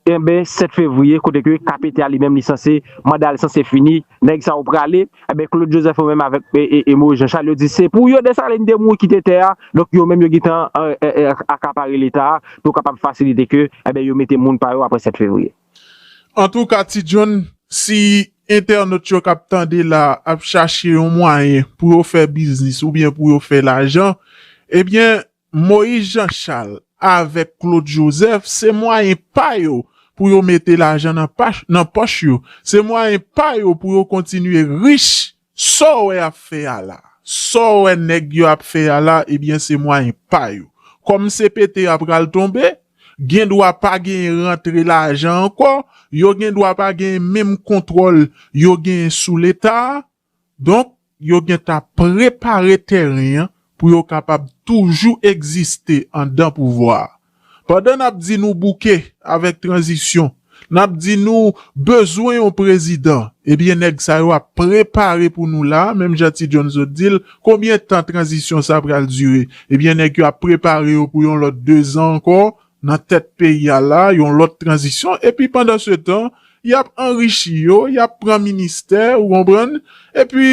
enben 7 fevriye kote ke kpt a li menm li sanse manda li sanse fini nèg sa yo prale enben Claude Joseph yo menm avèk e Moïse Jean Charles yo di se pou yo Dessalines te mouri kite tè a donk yo menm yo gentan akapare leta a pou kapab fasilite ke enben yo mete moun pa yo aprè 7 fevriye. Antouka ti John si entènot yo kap tande la ap chache yon mwayen pou yo fè biznis oubyen pou yo fè lajan ebyen Moïse Jean Charles avèk Claude Joseph se mwayen pa yo pou yo mete lajan nan pòch yo se mwayen pa yo pou yo kontinye rich Saw wè yap fè a la. Saw wè nèg yo ap fè a la ebyen se mwayen pa yo. Kòm cpt a pral tonbe, gen dwa pa genyen rantre lajan ankò, yo gen dwa pa genyen menm kontwòl yo genyen sou leta a, donk yo gentan ap prepare tèren an pou yo kapab toujou egziste andan pouvwa a. Pandan nap di nou bouke avèk tranzisyon, nap di nou bezwen yon prezidan, ebyen nèg sa yo ap prepare pou nou la, menm jan Ti John sot di l, konbyen tan tranzisyon sa pral dire? Ebyen nèg yo ap prepare yo pou yon lòt dezan ankò nan tèt peyi a la, yon lòt tranzisyon, epi pandansetan, Y ap anrichi yo, y ap pran ministè, ou konprann, epi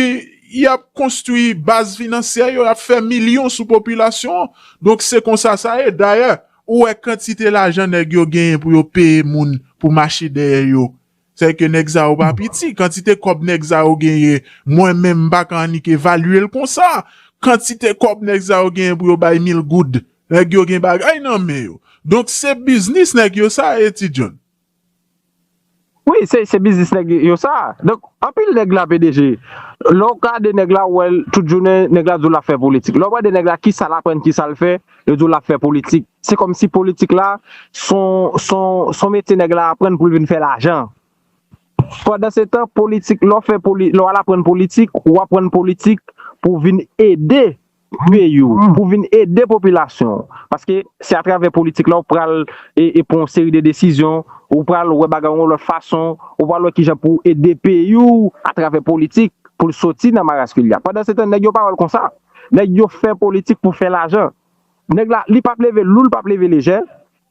y ap konstwi baz finansyè yo, y ap fè milyon sou popilasyon an. Donk se konsa sa ye. Dayè, ou wè kantite lajan nèg yo genyen pou yo peye moun pou mache dèyè yo. Sèke nèg sa yo pa piti. Kantite kòb nèg sa yo genyen, mwen menm m pa ka annik evalye l konsa. Kantite kòb nèg sa yo genyen pou yo bay mil goud. Nèg yo gen bagay nan men yo. Donk se biznis nèg yo sa ye, Ti John. Wi se biznis nèg yo sa. Donk anpil nèg la pdg. Lè w gade nèg la ou wè l tout jounen nèg la di w l ap fè politik. Lè w gade nèg la kisa l aprann kisa l fè yo di w l ap fè politik. Se kòmsi politik la son metye nèg la aprann pou l vin fè lajan. Pandansetan politik lè w fè lè w al aprann politik ou aprann politik pou w vin ede peyi w pou vin ede popilasyon w paske se atravè politik la w pral pran yon seri de desizyon ou pral wè bagay yon lòt fason ou pral wè kijan pou w ede peyi w atravè politik pou l soti nan maras ke l ye a pandansetan nèg yo pa wè l konsa nèg yo fè politik pou fè lajan nèg la li pap leve lou l pap leve lejè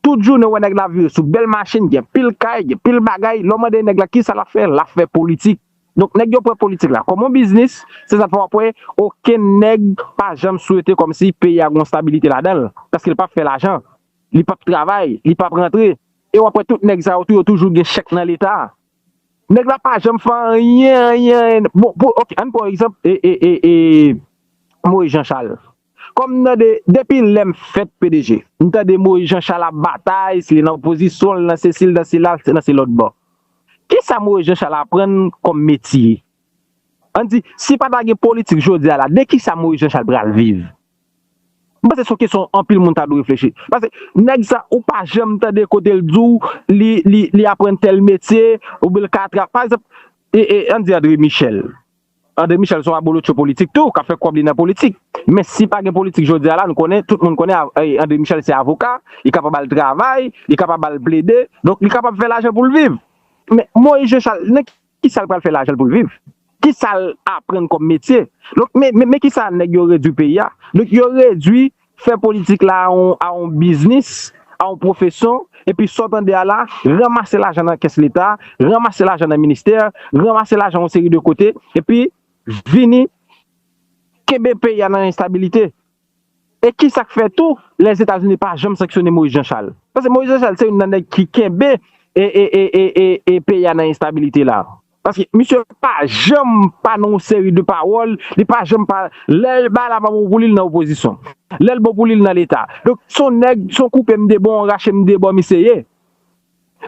tout jounen ou wè nèg la vire sou bèl machin gen pil kay gen pil bagay lè w mande nèg la kisa l ap fè l ap fè politik. Donk nèg yo pran politik la kòm yon biznis, se sa k fè w ap wè okenn nèg pa janm swete kòm si peyi a gen yon stabilite ladan l, paske l p ap fè lajan, li p ap travay, li p ap rantre. E w ap wè tout nèg sa yo tou, yo toujou gen chèk nan Leta. Nèg la pa janm fè anyen, anyen, anyen. Bon, pou, ok, ann pran yon egzanp, e, e, e, e, Moyiz Janchal. Kòm m tande depi lè m fèt pdg m tande Moïse Jean Charles ap batay si li nan opozisyon l nan sesi l nan sela l nan se lòtbò. Kisa Moïse Jean Charles aprann kòm metye? An n di si pa ta gen politik jodi a la de kisa Moïse Jean Charles pral viv? M panse se yon kesyon anpil moun ta dwe reflechi paske nèg sa ou pa janm tande kote l di w li li li aprann tèl metye oubyen l ka tra pa egzanp e e an n di André Michel André Michel son abolotcho politik tou kap fè kòb li nan politik men si pa gen politik jodi a la nou konnen tout moun konnen André Michel se avoka li kapab al travay li kapab al plede donk li kapab fè lajan poul viv men Moïse Jean Charles nan kisal pral fè lajan poul viv kisal aprann kòm metye donk men kisa nèg yo redwi peyi a donk yo redwi Fè politik la a yon biznis, a yon pwofeson, epi sa w tande a la, ranmase lajan nan kès leta, ranmase lajan nan ministè, ranmase lajan yon seri de kote, epi vini kenbe peyi a nan enstabilite. E ki sa k fè tou, Lèzetazini pa janm sanksyone Moyiz Janchal. Paske Moyiz Janchal se youn nan nèg ki kenbe peyi a nan enstabilite la. Paske misye pa janm pa nan yon seri de pawòl, li pa janm pa, lè bagay la pa bon pou li, li nan opozisyon. Lè l bon pou li, li nan leta. Donk se yon nèg, se yon koupe m 2 bò, yon rache m 2 bò misye ye.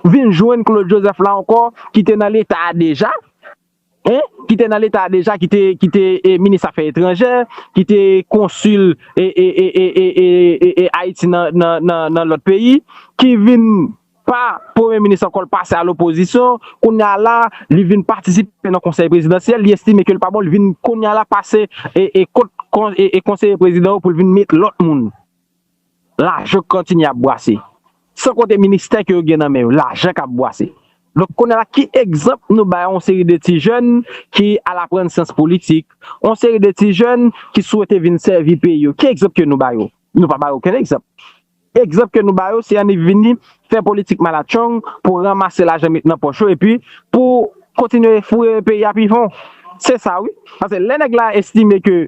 Vin jwenn Claude Joseph la ankò ki te nan leta a deja, hein, ki te nan leta a deja, ki te, ki te minis afè etranjè, ki te konsil e, e, e, e, e, e, e, e Ayiti nan, nan, nan, nan lòt peyi, ki vin. pa premye minis ankò l pase a lopozisyon kounya la li vin patisipe nan konsèy prezidansyèl li estime ke l pa bon li vin kounya la pase kot konseye prezidan yo pou l vin met lòt moun lajan kontinye ap bwase san konte ministè ke yo gen nan men yo lajan k ap bwase donk kounya la ki egzanp nou bay yon seri de ti jèn ki al aprann syans politik yon seri de ti jèn ki swete vin sèvi peyi yo ki egzanp ke nou ba yo nou pa ba yo okenn egzanp. Egzanp ke nou ba yo se annik vini fè politik malatchong pou ranmase lajan met nan pòch yo epi pou kontinye foure peyi a pi fon. Se sa wi. Paske lè nèg la estime ke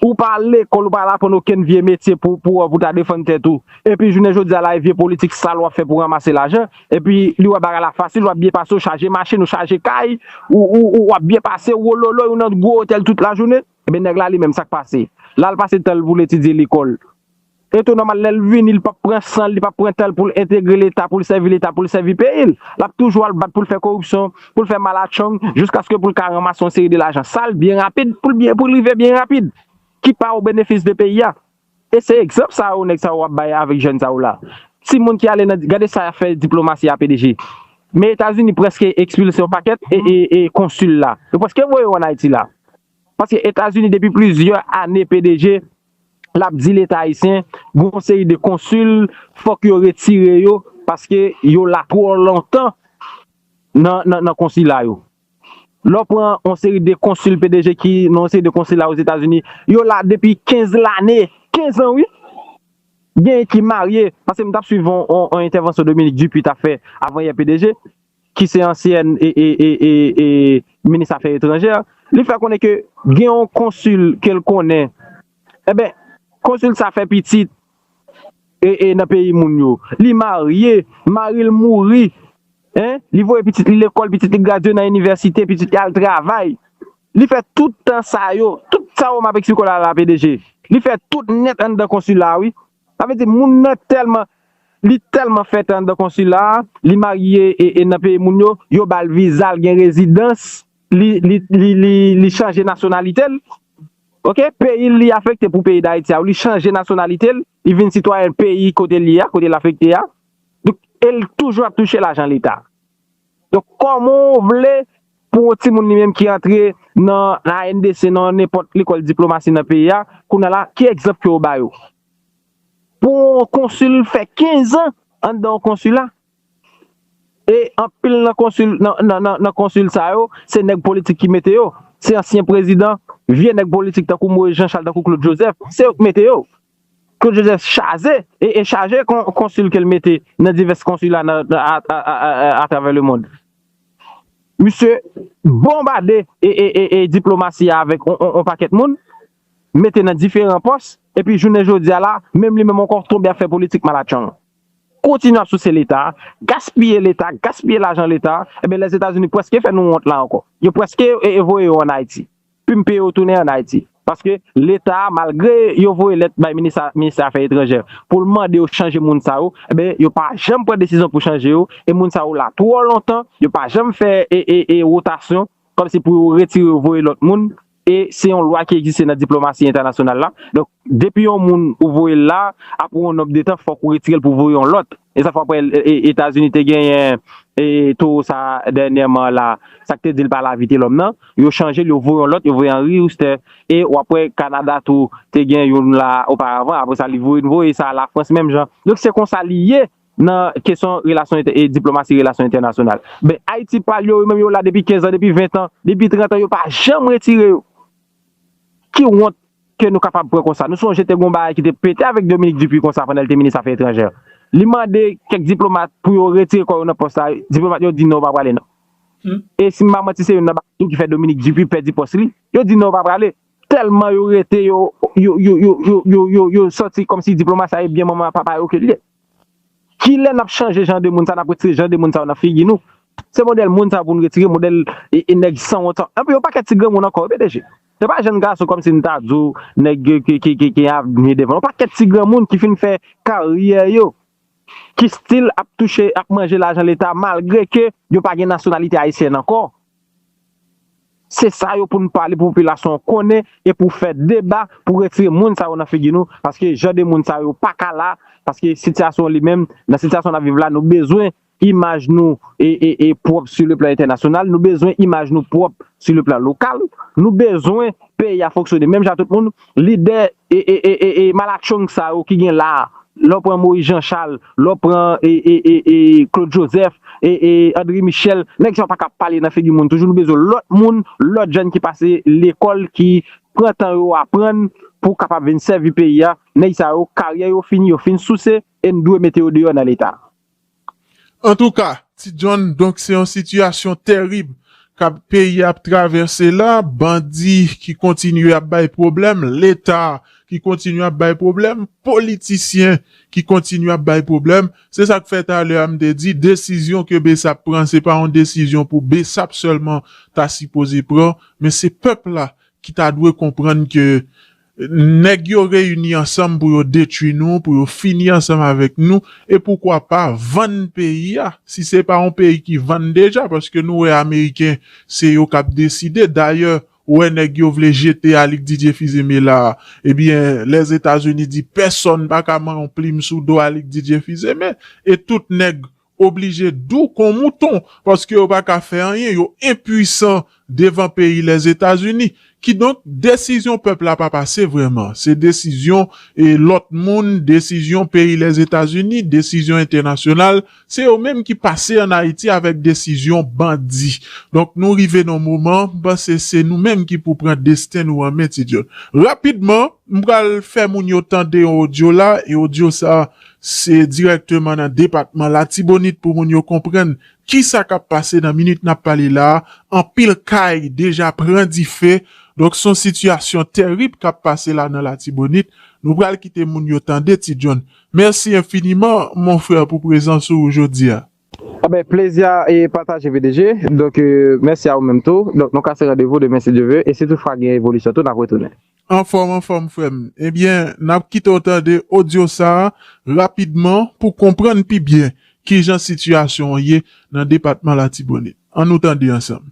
ou pa al lekòl, ou pa al aprann okenn vye metye pou pou wè pou ta defann tèt ou, epi jounen jodi a la e vye politik sal wap fè pou ranmase lajan, epi li wè bagay la fasil, wap byen pase, ou chaje machin, ou chaje kay, ou ou ou wap byen pase, ou wololoy, ou nan gwo otèl tout lajounen, ebyen nèg la li menm sak pase? Lal pase tan l pou l etidye lekòl. E tou nòmal lèl vini li pap pran sanl li pap pran tanl poul entegre leta poul sèvi leta poul sèvi peyil lap toujou al bat poul fè koripsyon poul fè malatchong jiskaske poul ka ranmase yon seri de lajan sal byen rapid poul byen poul rive byen rapid ki pa o benefis de peyi a e se egzanp sa yo nèg sa yo ap bay avèk jèn sa yo la timoun ki ale nan gade sa yap fè diplomasi a pdg men etazini preske ekspilse yon pakèt e konsil la yo preske voye yo an ayiti la paske etazini depi plizyè ane pdg lap di leta ayisyen gen yon seri de konsil fòk yo retire yo paske yo la twò lontan nan konsila yo. Lè w pran yon seri de konsil pdg ki nan yon seri de konsila ozetazini yo la depi 15 lane, 15 an wi! Genyen ki marye paske m tap swiv yon entèvansyon Dominique Dupuy tap fè avan yè pdg. ki se ansyen minis afè etranjè, li fè konnen ke gen yon konsil ke l konnen, enben, konsil sa fè pitit nan peyi moun yo, li marye, mari l mouri, li voye pitit li lekòl, pitit li gradye nan inivèsite, pitit li al travay, li fè tout tan sa yo, tout sa yo m ap eksplike w la la, PDG, li fè tout nèt anndan konsil la wi. Sa vle di moun nan tèlman li tèlman fèt anndan konsila a, li marye e nan peyi moun yo, yo ba l viza l gen rezidans, li li li li chanje nasyonalite l ok, peyi l li afekte pou peyi Dayiti a, li chanje nasyonalite l, li vin sitwayen peyi kote l ye a, kote l afekte a, donk e l toujou ap touche lajan leta. Donk kòman w vle pou yon timoun li menm ki antre nan ANDC nan nenpòt lekòl diplomasi nan peyi a, kounye la ki egzanp ke w ba yo? Pou yon konsil fè 15 an anndan yon konsila e anpil nan konsil nan konsil sa yo se nèg politik ki mete yo, se ansyen prezidan, vye nèg politik tankou Moyiz Janchal, tankou Klod Jozèf, se yo k mete yo. Claude Joseph chaze e chaje konsil ke l mete nan divès konsila atravè lemond. Misye bonbade diplomasi a avèk yon pakèt moun, mete nan diferan pòs, epi jounen jodi a la, menm li menm ankò tonbe ap fè politik malatchong. Kontinye ap souse Leta, gaspiye Leta, gaspiye lajan Leta, enben Lèzetazini prèske fè nou wont la ankò. Yo prèske voye yo an Ayiti. Pum peye yo tounen an Ayiti. Paske leta a malgre yo voye lèt bay minista ministè afè etranjè poul mande yo chanje moun sa yo enben yo pa janm pran desizyon pou chanje yo e moun sa yo la twò lontan yo pa janm fè e rotasyon kòmsi pou yo retire yo voye lòt moun e se yon lwa ki egziste nan diplomasi entènasyonal la donk depi yon moun ou voyel la aprè yon nonb de tan fòk ou retirel pou voye yon lòt. E sa fè w ap wè Etazini te genyen towo sa dènyèman la, sa k te di l pa la Vitelòm nan, yo chanje l, yo voye yon lòt, yo voye Henri Huster. E w ap wè Kanada tou te gen youn la oparavan, apre sa li voye, nou voye sa Lafrans menm jan. Donk se kon sa li ye nan kesyon relasyon, diplomasi relasyon entènasyonal. Ben Ayiti pa l yo, yo menm yo la depi 15 an, depi 20 an, depi 30 an, yo pa janm retire yo. Ki wont ke nou kapab pran konsa? Nou sonje te gen yon bagay ki te pete avèk Dominique Dupuy konsa pandan li te minis afè etranjè. Li mande kèk diplomat pou yo retire kò yo nan pòs la, diplomat yo di non yo pa prale non. E si m pa manti se youn nan bagay tou ki fè Dominique Dupuy pèdi pòs li, yo di non yo pa prale. Tèlman yo rete yo yo yo yo yo yo yo sòti kòmsi diplomat sa e byen manman a papa yo ke li ye. Kilè nap chanje jan de moun sa nap retire jan de moun sa yo nan figi nou se modèl moun sa yo pou nou retire modèl nèg sanwont sa yo epi yon pakèt ti granmoun ankò wi pdg se pa jèn gason kòmsi nou ta di w nèg ki gen avni devan yo yon pakèt ti granmoun ki fin fè karyè yo ki stil ap touche ap manje lajan leta malgre ke yo pa gen nasyonalite ayisyèn ankò Se sa yo pou nou pale pou popilasyon an konnen e pou fè deba pou retire moun sa yo nan figi nou paske jan de moun sa yo pa ka la paske sitiyasyon li menm nan sitiyasyon n ap viv la nou bezwen imaj nou e pwòp si le plan entènasyonal nou bezwen imaj nou pwòp si le plan lokal nou bezwen peyi a fonksyone menm jan ak tout moun Lidè e malatchong sa yo ki gen la, lè w pran Moïse Jean Charles, lè w pran e Claude Joseph, e André Michel, nèg sa yo pa ka pale nan figi moun toujou, nou bezwen lòt moun, lòt jèn ki pase lekòl, ki pran tan yo aprann pou kapab vin sèvi peyi a, nèg sa yo karyè yo fini, yo fin souse e n dwe mete yo deyò nan leta. Antouka, Ti John, donk se yon sitiyasyon terib kap peyi ap travèse la, bandi ki kontinye ap bay pwoblèm, leta ki kontinye ap bay pwoblèm, politisyen ki kontinye ap bay pwoblèm, se sak fè talè a m te di desizyon ke bsap pran se pa yon desizyon pou bsap sèlman ta sipoze pran men se pèp la ki ta dwe konprann ke Nèg yo reyini ansanm pou yo detwi nou, pou yo fini ansanm avèk nou, e poukwa pa vann peyi a, si se pa yon peyi ki vann deja, paske nou wè ameriken se yo k ap deside, dayè ou wè nèg yo vle jete Alix Didier Fils-Aimé la, ebyen Lèzetazini di pèsòn pa ka man yon plim sou do Alix Didier Fils-Aimé, e tout nèg oblije dou kon mouton paske yo pa ka fè anyen, yo enpuisan devan peyi Lèzetazini. Kidonk, desizyon pèp la pa pase vrèman. Se desizyon lòt moun, desizyon peyi Lèzetazini, desizyon entènasyonal, se yo menm ki pase ann Ayiti avèk desizyon bandi. Donk, nou rive nan yon moman, m panse se nou menm ki pou pran desten nou an men, Ti John. Rapidman, m pral fè moun yo tande yon odyo la e odyo sa a Se dirèkteman nan depatman Latibonit pou moun yo konprann ki sa k ap pase nan minit n ap pale la a. Anpil kay deja pran dife. Donk s on sitiyasyon tèrib k ap pase la nan Latibonit. Nou pral kite moun yo tande ti John. Mèsi enfiniman mon frère pou prezans ou jodi a. Anben plezi a pataje pdg, donk mèsi a ou menm tou, donk nou kase randevou demen si Dye ve, e si tout fwa gen evolisyon tou nap retounen. Anfòm anfòm frèm, ebyen nap kite w tande odyo sa rapidman pou konprann pi byen kijan sitiyasyon an ye nan depatman Latibonit, an nou tande ansanm.